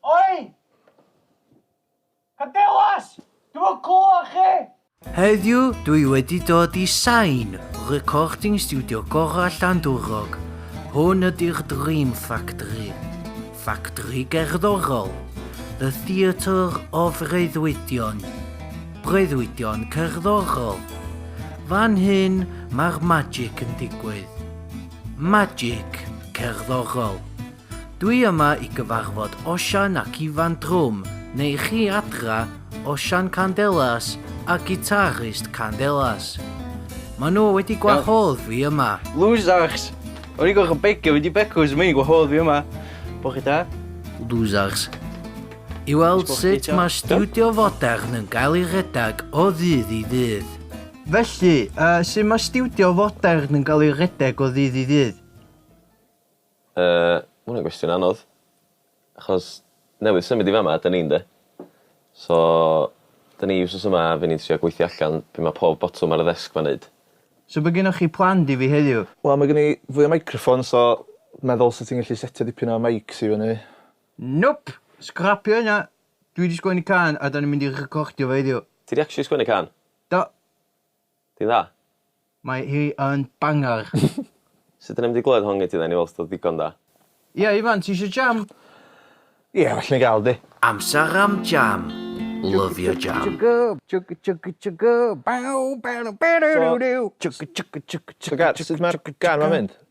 Oi! Cadelas! Dwi yn clywed chi! Heddiw dwi wedi dod i Sain, recording studio gorau Llandwrog. Hwn ydy'r Dream Factory. Factory gerddorol. The Theatre of Reuddwydion. Breuddwydion cerddorol. Fan hyn mae'r magic yn digwydd. Magic cerddorol. Dwi yma i gyfarfod Osian ac Ifan Drwm, neu chi adra, Osian Candelas a gitarist Candelas. Maen nhw wedi gwahodd fi yma. Losers! O'n i'n gorfod begio fynd i Becws, mae hi'n gwahodd fi yma. Bo chi da? Losers. I weld sut mae stiwdio fodern yn gael ei redeg o ddydd i ddydd. Felly, uh, sut mae stiwdio fodern yn cael ei redeg o ddydd i ddydd? Yy, ma' wnna'n gwestiwn anodd. Achos newydd symud i fama ydan ni ynde? So 'dyn ni wsos yma a fy' ni'n trio gweithio allan be' ma' pob botwm ar y ddesg 'ma'n neud. So be' gynnoch chi planned i fi heddiw? Wel ma' gen i fwy o meicroffons so meddwl sa ti'n gallu setio dipyn o meics i fyny. Nope! Sgrapio hynna! Dwi 'di sgwennu cân a 'dan ni'n mynd i recordio fo heddiw. Ti 'di actually sgwennu cân? Do. Ti'n dda? Mae hi yn banger! Sut dyn ni'm di glywed hon gen ti dden i weld os o'dd o ddigon da. Ia Ifan ti isio jam? Ia well ni ga'l di. Amser am jam! Lyfio jam! So, so Gar, sut ma'r gan 'ma'n mynd?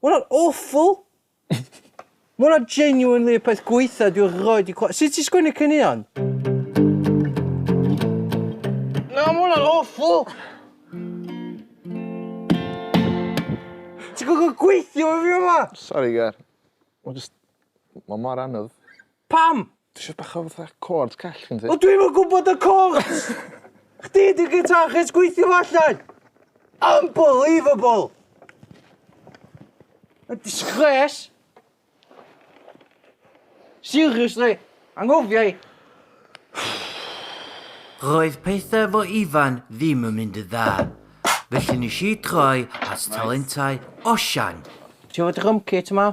Ma' hwnna'n awful! Ma' hwnna genuinely y peth gwaetha dwi erioed 'di clywed. Sut ti'n sgwennu caneuon? Na, ma' hwnna'n awful! Ti'n gorfod gweithio efo fi yma! Sori Gar. Ma' jyst... Ma' mor anodd. Pam? Dwi isio bach o fatha chords call gen ti. O dwi'm yn gwybod y chords! Chdi di guitarist gweithio fo allan! Unbelievable! Mae'n disgres! Seriously, anghofia i! Roedd pethau efo Ifan ddim yn mynd yn dda, felly nes i droi at talentau Osian. Ti efo drum kit yma?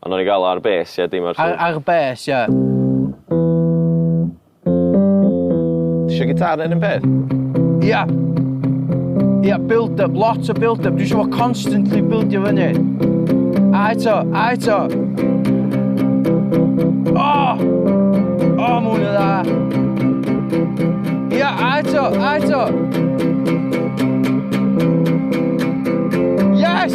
A nawn ni ga'l o ar bêss ie dim ar fflwt. Ar ar bêss ie. Tisio gitâr neu'r un peth? Ia. Ia build up lot o build up dwi isio fo constantly bildio fyny. A eto a eto. O! O ma' hwn yn dda. Ia a eto a eto. Yes!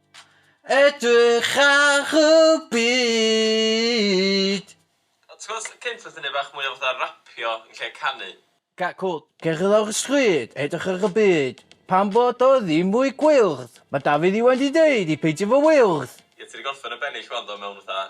Edrych ar y byd. A ti'n gwbod sut cynt nath e neud bach mwy o fatha rapio yn lle canu? Ca- cwl. Cerdded lawr y stryd, edrych ar y byd. Pam bod o ddim mwy gwyrdd? Ma' Dafydd Iwan 'di deud i peidio fo wyrdd! Ie ti 'di gorffen y bennill ŵan do mewn fatha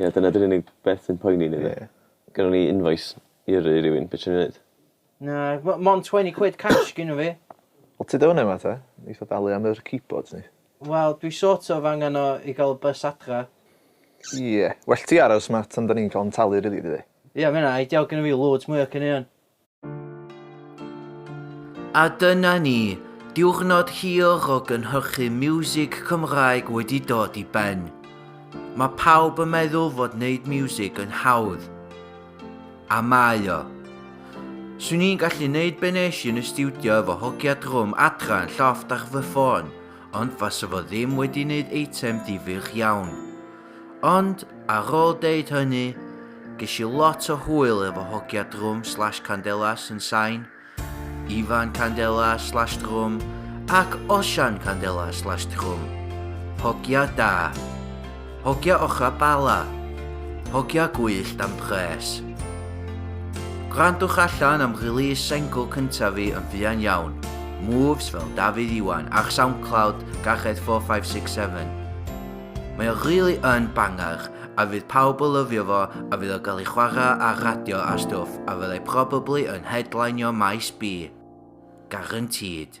Ie dyna di'r unig beth sy'n poeni ni 'de? Ie. Gynnon ni invoice i yrru i rywun, be' ti myn' i neud? Na m- mond twen'y quid cash gynno fi. Wel tyd o fynna ma ta? Neith o dalu am yr keyboards neith? Wel dwi sort of angan o i ga'l y bys adra. Ie. Well ti aros ma tan da ni'n ca'l yn talu rili dydi? Ie ma' ynna ideal gynno fi loads mwy o caneuon. A dyna ni, diwrnod hir o gynhyrchu miwsig Cymraeg wedi dod i ben. Mae pawb yn meddwl fod wneud miwsig yn hawdd. A mae o. Swn i'n gallu wneud be nes i yn y stiwdio efo hogia drwm adra yn llofft ar fy ffôn, ond fasa fo ddim wedi wneud eitem difyr iawn. Ond, ar ôl deud hynny, ges i lot o hwyl efo hogia drwm slash candelas yn sain, Ifan candelas slash drwm ac Osian candelas slash drwm. Hogia da. Hogia ochrau Bala. Hogia gwyllt am pres. Gwrandwch allan am release sengl cyntaf fi yn fuan iawn, Moves fel Dafydd Iwan ar Soundcloud, Garched 4567. Mae o really yn banger a fydd pawb o lyfio fo a fydd o gael ei chwarae ar radio a stwff a fyddai probably yn headlineio maes B. Guaranteed.